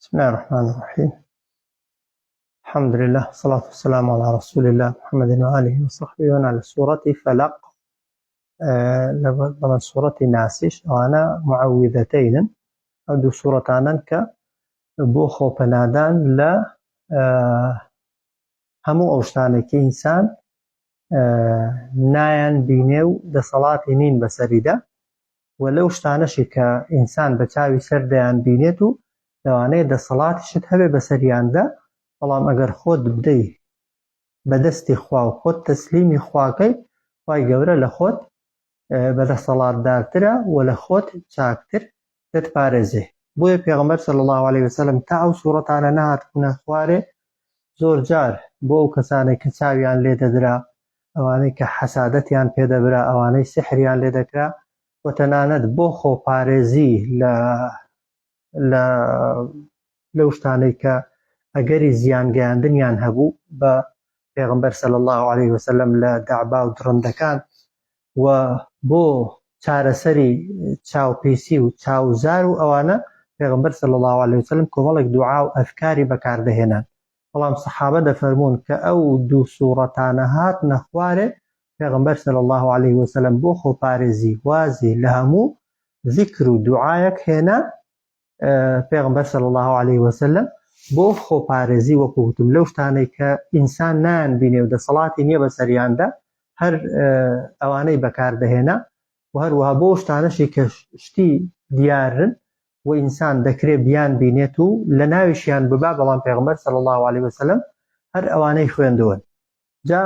بسم الله الرحمن الرحيم الحمد لله والصلاة والسلام على رسول الله محمد وآله وصحبه وأنا لسورة فلق لەگەڵ سوڕەتی ناسیش ئەوانە معویدەتەینن ئەو دوو سوورەتانن کە بۆ خۆپەنادان لە هەموو ئەو شتانێکی ئینسان نایان بینێ و دەسەڵاتی نین بەسەریدا و لەو شتانەشی کە ئینسان بە چاوی سەر دەیان بینێت و لەوانەیە دەسەڵاتیشت هەبێ بەسەریاندا بەڵام ئەگەر خۆت بدەی بەدەستی خوا و خۆت تەسلیمی خواکەی خوای گەورە لە خۆت بەدەسەڵاتدارترە و لە خۆت چاکتر دەتپارێزێ بۆیە پێغەمبەر صلی اللە علیە وسلم تا ئەو سوڕەتانە نەهاتبوونە خوارێ زۆرجار بۆ ئەو کەسانەی کە چاویان لێ دەدرا ئەوانەی کە حەسادەتیان پێدەبرا ئەوانەی سحریان لێ دەکرا و تەنانەت بۆ خۆپارێزی لە لە لەو شتانەی کە ئەگەری زیان گەیاندنیان هەبوو بە پێغمبەر صلی الله علیه وسلم لە دەعبا و دڕندەکان و بۆ چارەسەری چاوپیسی و چاوزار و ئەوانە پێغمبەر صلی الله علیه وسلم کۆمەڵێک دوعا و ئەذکاری بەکاردەهێنان بەڵام سەحابە دەفەرموون کە ئەو دوو سوڕەتانە هاتنە خوارێ پێغەمبەر صلی اللە علیە وسلم بۆ خۆپارێزی وازی لە هەموو زیکر و دوعایەک هێنا پێغەمبەر صلی اللە علیە وسلم بۆ خۆپارێزی وەکو وتم لەو شتانەی کە ئینسان نان بینێ و دەسەڵاتی نییە بەسەریاندا هەر ئەوانەی بەکاردەهێنا و هەروەها بۆ شتانەشی کە شتی دیارن و ئینسان دەکرێ بیان بینێت و لەناویشیان ببا بەڵام پێغەمبەر صلی اللە علیە وسلم هەر ئەوانەی خوێندوون جا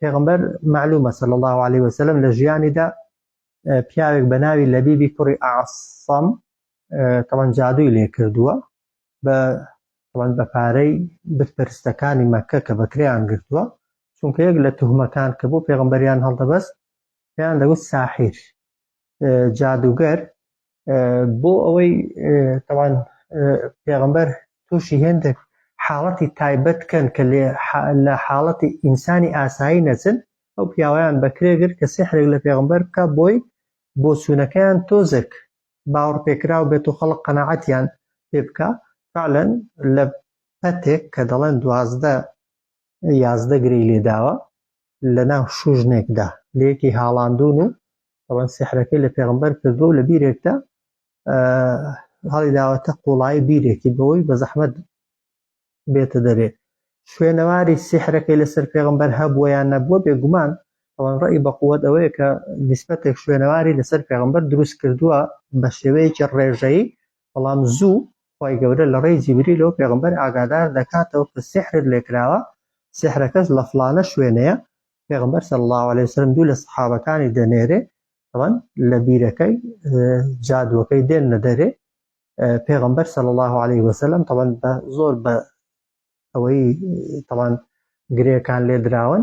پێغەمبەر معلومە صلی اللە علیە وسلم لە ژیانیدا پیاوێک بە ناوی لەبیبی کوڕی ئاسەم تەوان جادووی لێ کردووە بە تەوان بە پارەی بتپەرستەکانی مەکە کە بەکریان گرتووە چونکە یەک لە تهمەکان کە بۆ پێغمبەریان هەڵدەبەست پێیان دەگوت ساحیر جادووگەر بۆ ئەوەی تەوان پێغمبەر تووشی هێندێک حاڵەتی تایبەت کەن کە لە حاڵەتی ئینسانی ئاسایی نەچن ئەو پیاویان بەکرێگر کە سحرێک لە پێغمبەر بکە بۆی بۆ چوونەکەیان تۆزێک باوەڕ پێکراو بێت و خەڵک قەنەعەتیان پێ بکە فعلەن لە پەتێک کە دەڵێن دوازدە یازدە گرێی لێداوە لە ناو شوژنێکدا لەیەکی هاڵاندون و ئەوەن سحرەکەی لە پێغمبەر کردو و لە بیرێکدا هەڵی داوەتە قوڵایی بیرێکی بەوەی بە زەحمەت بێتە دەرێ شوێنەواری سحرەکەی لەسەر پێغمبەر هەبووە یان نەبووە بێگومان ئەوان ڕێی بە قووەت ئەوەیە کە دیسپەتێک شوێنەواری لەسەر پێغمبەر دروست کردووە بە شێوەیەکی ڕێژەی بەڵام زوو خوای گەورە لە ڕێی جیبریلەوە پێغەمبەر ئاگادار دەکاتەوە کە سیحرت لێکراوە سیحرەکەش لە فڵانە شوێنەیە پێغەمبەر صلی اللە علیە وسلم دوو لە سەحابەکانی دەنێرێ طبعا لە بیرەکەی جادوەکەی دێن نەدەرێ پێغەمبەر صلی اللە علیه وسلم طبعا بە زۆر بە ئەوەی طبعا گرێکان لێ دراون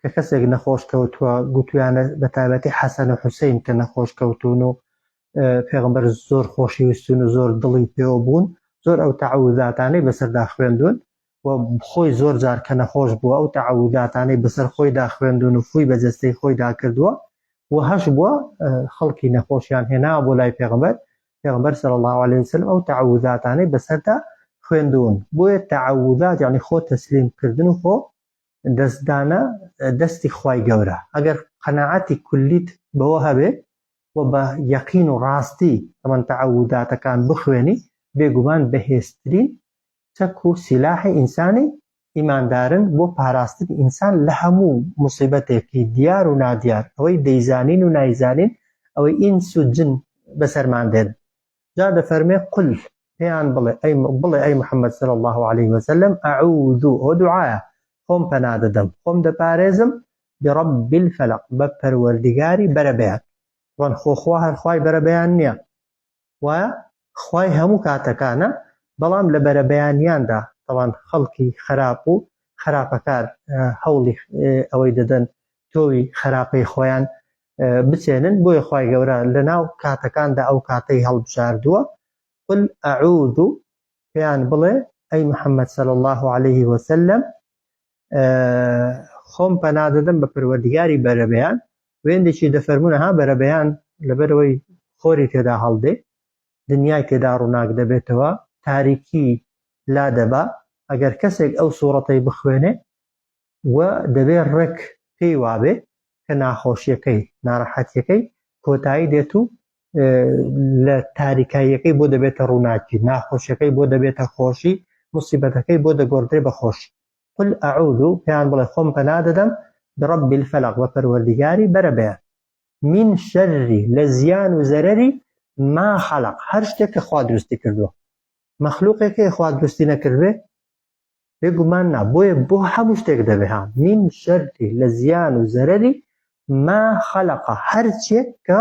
کە کەسێک نەخۆش کەوتووە گوتویانە بە تایبەتی حەسەن و حوسین کە نەخۆش کەوتون و پێغمبەر زۆر خۆشی ویستون و زۆر دڵی پێوە بوون زۆر ئەو تەعوداتانەی بەسەردا خوێندون و خۆی زۆر جار کە نەخۆش بووە ئەو تەعوداتانەی بەسەر خۆیدا خوێندون و فوی بە جەستەی خۆیدا کردووە و هەش بووە خەڵکی نەخۆشیان هێنا بۆ لای پێغمبەر پێغمبەر سەر الله عليه وسلم ئەو تەعوداتانەی بەسەردا خوێندون بۆیە تەعودات یعنی خۆ تەسلیم کردن و خۆ دەست دانە دەستی خوای گەورە ئەگەر قەناعەتی کولیت بەوە هەبێ و بە یەقین و ڕاستی تەمەن تەعەووداتەکان بخوێنی بێگومان بەهێزترین چەک و سیلاحی ئینسانی ئیماندارن بۆ پاراستنی ئینسان لە هەموو موسیبەتێکی دیار و نادیار ئەوەی دەیزانین و نایزانین ئەوەی ئینس و جن بەسەرمان دێن جا دەفەرمێ قل پێیان بڵێ ئەی بڵێ ئەی محمد صلی الله علیه وسلم اعوذ ئەو دوعایە خۆم پەنا دەدەم خۆم دەپارێزم برب الفلق بە پەروەردگاری بەرەبەیان وان خۆخوا هەرخوای بەرەبەیان نییە و خوای هەموو کاتەکانە بەڵام لە بەرەبەیانیاندا تەوان خەڵکی خراپ و خراپەکار هەوڵی ئەوەی دەدەن تۆوی خراپەی خۆیان بچێنن بۆیە خوای گەورە لەناو کاتەکاندا ئەو کاتەی هەڵبژاردووە قل اعوذ پێیان بڵێ ئەی محەممەد سەل الله عليه وسلم خۆم پەنادەدەم بە پەروەردگاری بەرەبیان وێندێکی دەفەرمونە ها بەرەبیان لەبەرەوەی خۆری تێدا هەڵدێ دنیای تێدا ڕووناک دەبێتەوە تاریکی لا دەبا ئەگەر کەسێک ئەو سوورەتەی بخوێنێ و دەبێ ڕێک پێی وابێ کە ناخۆشییەکەی، ناڕەحەتییەکەی کۆتایی دێت و لە تاریکاییەکەی بۆ دەبێتە ڕووناکی، ناخۆشییەکەی بۆ دەبێتە خۆشی، موسیبەتەکەی بۆ دەگۆڕدرێ بە خۆشی. قل اعوذ، پێیان بڵێ خۆم پەنا دەدەم، برب الفلق، بە پەروەردیگاری بەرەبەیان، من شر، لە زیان و زەرەری، ما خلق، هەر شتێک کە خوا دروستی کردووە. مەخلووقێک هەیە خوا دروستی نەکردبێ؟ بێ گومان نا بۆیە بۆ هەموو شتێک دەبێ ها من شەرتی لە زیان و زەرەری ما خەلقە هەرچێک کە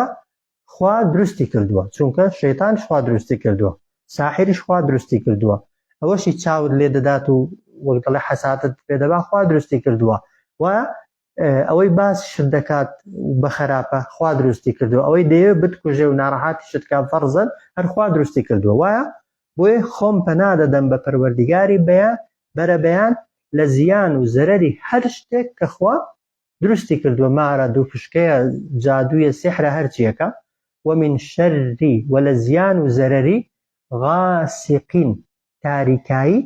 خوا دروستی کردووە چونکە شەیتان خوا دروستی کردووە ساحریش خوا دروستی کردووە ئەوەشی چاوت لێ دەدات و وەک دەڵێ حەساتت پێ دەبا خوا دروستی کردووە و ئەوەی باس شت دەکات و بەخەراپە خوا دروستی کردوە ئەوەی دەیەوێت بتکوژێ و ناڕەحاتی شت کا فەرزەن هەر خوا دروستی کردوە وایە بۆیە خۆم پەنا دەدەم بە پەروەردیگاری بەیان بەرە بەیان لە زیان و زەرەری هەر شتێک کە خوا دروستی کردوە مارە دوو پشکەیە جادوویە سیحرە هەرچیەکە ومن شەری وە لە زیان و زەرەری غاسقین تاریکایی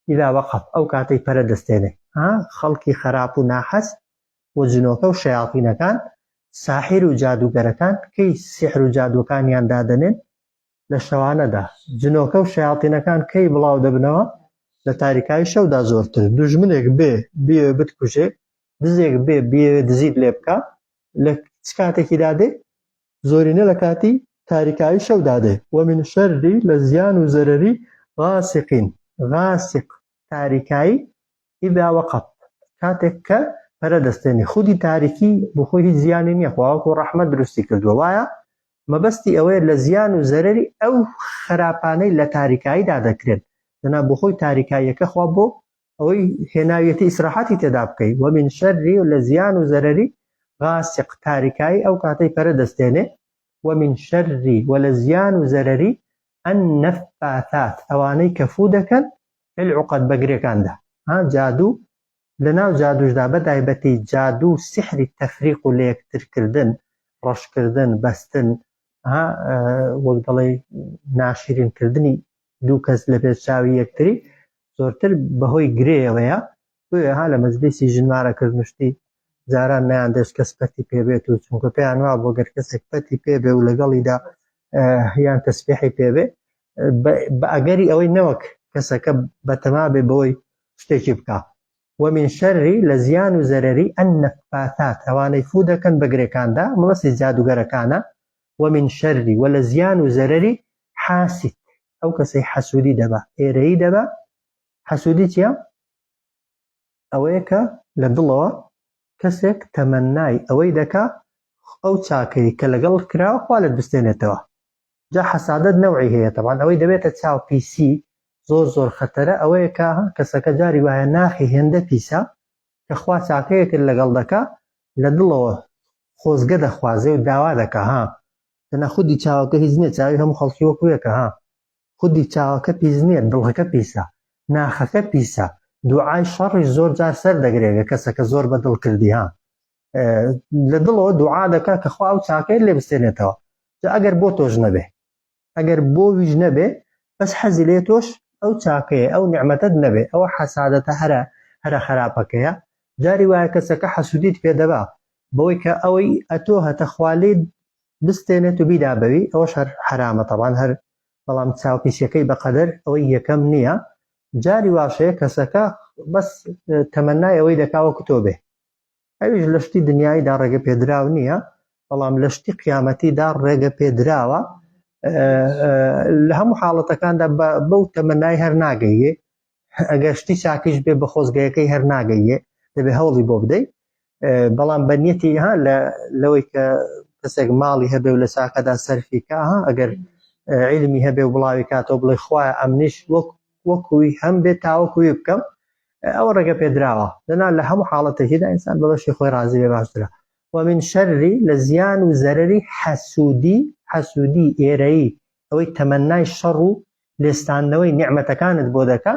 ئیلا وەقەف ئەو کاتەی پەرە دەستێنێ ها خەڵکی خەراپ و ناحەز و جنۆکە و شەیاتینەکان ساحیر و جادووگەرەکان کەی سیحر و جادووەکانیان دادەنێن لە شەوانەدا جنۆکە و شەیاتینەکان کەی بڵاو دەبنەوە لە تاریکایی شەودا زۆرتر دوژمنێک بێ بێ بتکوژێ دزێک بێ بێ دزیت لێ بکە لە چ کاتێکی دادێ زۆرینە لە کاتی تاریکایی شەودا دێ. ومن شەری لە زیان و زەرەری غاسقین، غاسق تاریکایی، اذا وقب کاتێک کە پەرە دەستێنێ، خودی تاریکی بۆ خۆی هیچ زیانی نیە خوا وەکو ڕەحمەت دروستی کردووە وایە مەبەستی ئەوەیە لە زیان و زەرەری ئەو خراپانەی لە تاریکاییدا دەکرێن دەنا بۆ خۆی تاریکاییەکە خوا بۆ ئەوەی هێناویەتی ئیسراحەتی تێدا بکەی وەمین شەری و لە زیان و زەرەری غاسق تاریکایی ئەو کاتەی پەرە دەستێنێ وەمین شەری و لە زیان و زەرەری النفاثات ئەوانەی کە فوو دەکەن فی العقد بە گرێکاندا ها جادو لەناو جادوشدا بە تایبەتی جادو سحری تەفریق و لەیەکترکردن ڕەشکردن بەستن ها وەک دەڵێ ناشیرین کردنی دوو کەس لەپێش چاوی یەکتری زۆرتر بەهۆی گرێیەوەیە بۆیە ها لە مەجلیسی ژنمارە کردنشتی جاران نیان دەست کەس پەتی پێبێت و چونکە پێیان وا بۆ گەر کەسێک پەتی پێبێ و لەگەڵیدا یان تەسبیحی پێبێ بە ئەگەری ئەوەی نەوەک کەسەکە بەتەما بێ بۆی شتێکی بکە ومن شەری لە زیان و زەرری ئەن نەفاتات ئەوانەی فو دەکەن بەگرێکاندا مڵسی جادوگەرەکانە و من شەری وە لە زیان و زەرەری حاسد ئەو کەسەی حەسودی دەبا ئێرەیی دەبا حەسودی چیە ئەوەیە کە لە دڵەوە کەسێک تەمەنای ئەوەی دەکا ئەو چاکەی کە لەگەڵ کراوە خوا لەت بستێنێتەوە جا حەسادت نەوعی هەیە تەبان ئەوەی دەبێتە چاو پیسی زۆر زۆر خەتەرە ئەوەیە کە کەسەکە جاری وایە ناخی هێندە پیسە کە خوا چاکەیەکت لەگەڵ دەکا لە دڵەوە خۆزگە دەخوازێ و داوا دەکا ها دەنا خودی چاوەکە هیچ نیە چاوی هەموو خەڵکی وەکو یەکە ها خودی چاوەکە پیس نیە دڵەکە پیسە ناخەکە پیسە دوعای شەڕیش زۆر جار سەر دەگرێ گە کەسەکە زۆر بە دڵ کردی ها لە دڵەوە دوعا دەکا کە خوا ئەو چاکەی لێ بستێنێتەوە جا ئەگەر بۆ تۆش نەبێ ئەگەر بۆ ویش نەبێ بەس حەزی لێ تۆش ئەو چاکەیە ئەو نیعمەتەت نەبێ ئەوە حەسادەتە هەرە هەرە خەراپەکەیە جاری وایە کەسەکە حەسودیت پێ دەبا بەوەی کە ئەوەی ئەتۆ هەتە خوا لێ بستێنێت و بیدا بەوی ئەوەش هەر حەرامە تەبان هەر بەڵام چاوپیسیەکەی بەقەدەر ئەوەی یەکەم نییە جاری واشەیە کەسەکە بەس تەمەنای ئەوەی دەکا وەکو تۆ بێ ئەویش لە شتی دنیاییدا ڕێگەپێدراو نییە، بەڵام لە شتی قیامەتیدا ڕێگەپێدراوە، لە هەموو حاڵەتەکاندا بەو تەمەنای هەر ناگەیێ، ئەگەر شتی چاکیش بێ بە خۆزگەیەکەی هەر ناگەیێ، دەبێ هەوڵی بۆ بدەیت، بەڵام بە نیەتی ها لەوەی کە کەسێک ماڵی هەبێ و لە چاکەدا سەرفی کا ها ئەگەر علمی هەبێ و بڵاوی کاتەوە بڵێ خوایە ئەمنیش وەک وەکوی هەم بێت تاوەکوی بکەم ئەوە ڕێگە پێدراوە دەنا لە هەموو حاڵەتێکیدا ئینسان بە بەشی خۆی ڕازی بێ باشترە ومن شەری لە زیان و زەرری حەسوودی حەسوودی ئێرەیی ئەوەی تەمەنای شەڕ و لێستانەوەی نیعممەتەکانت بۆ دەکە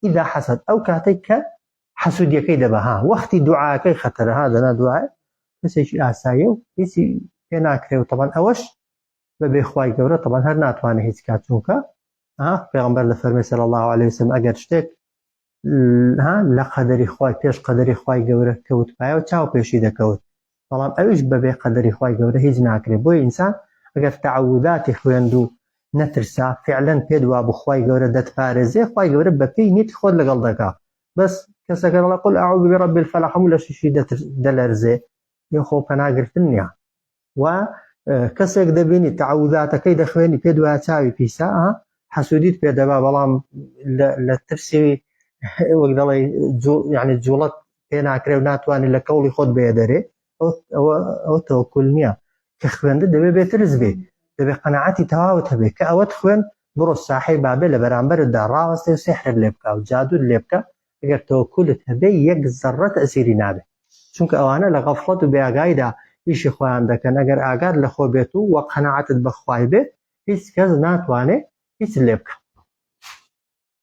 ئیدا حەسەد ئەو کاتێک کە حەسوودیەکەی دەبەها وەختی دوعاکەی خەتەرەها دەنا دوای کەسێکی ئاسایە و هیچی پێ ناکرێ و تەبان ئەوەش بەبێ خوای گەورە تەبەن هەر ناتوانێت هیچ کات چونکە پێغمبەر لە فەرمی سەر الله عليه وسلم ئەگەر شتێک لە قەدەری خی پێش قەدەری خی گەورە کەوت پایە و چاو پێشی دەکەوت بەڵام ئەوش بەبێ قەدەری خی گەورە هیچ ناکرێت بۆی ئینسان ئەگەر تەعوداتی خوێند و نەترسا فعلەن پێت وا بخوای گەورە دەتپارێزێ خی گەورە بەپی نیت خۆت لەگەڵ دەکا بەس کەسەکە لە قل ئاعوذ برب الفلح هەموو لە شیشی دەلەرزێ یە خۆ پەناگرتن نیە و کەسێک دەبینی تەعوداتەکەی دەخوێنی پێ دوای چاوی پیسە حەسوودیت پێ دەبا بەڵام لە ترسی وەک دەڵێ یعنی جوڵەت پێ ناکرێ و ناتوانانی لە کەوڵی خۆت بێ دەرێ ئەو تەوەکل نییە کە خوێندە دەبێ بێترز بێ دەبێ قەنەعەتی تەواوت هەبێ کە ئەوەت خوێن بڕۆ ساحی بابێ لە بەرامبەردا ڕاوەستێ و سێحرێک لێ بکە و جادوت لێ بکە ئەگەر تەوەکولت هەبێ یەک زەڕە تەئسیری نابێ چونکە ئەوانە لە غەفڵەت و بێئاگاییدا ئیشی خۆیان دەکەن ئەگەر ئاگات لە خۆ بێت و وە قەناعەتت بە خوای بێت هیچ کەس ناتوانێ هیچت لێ بکا.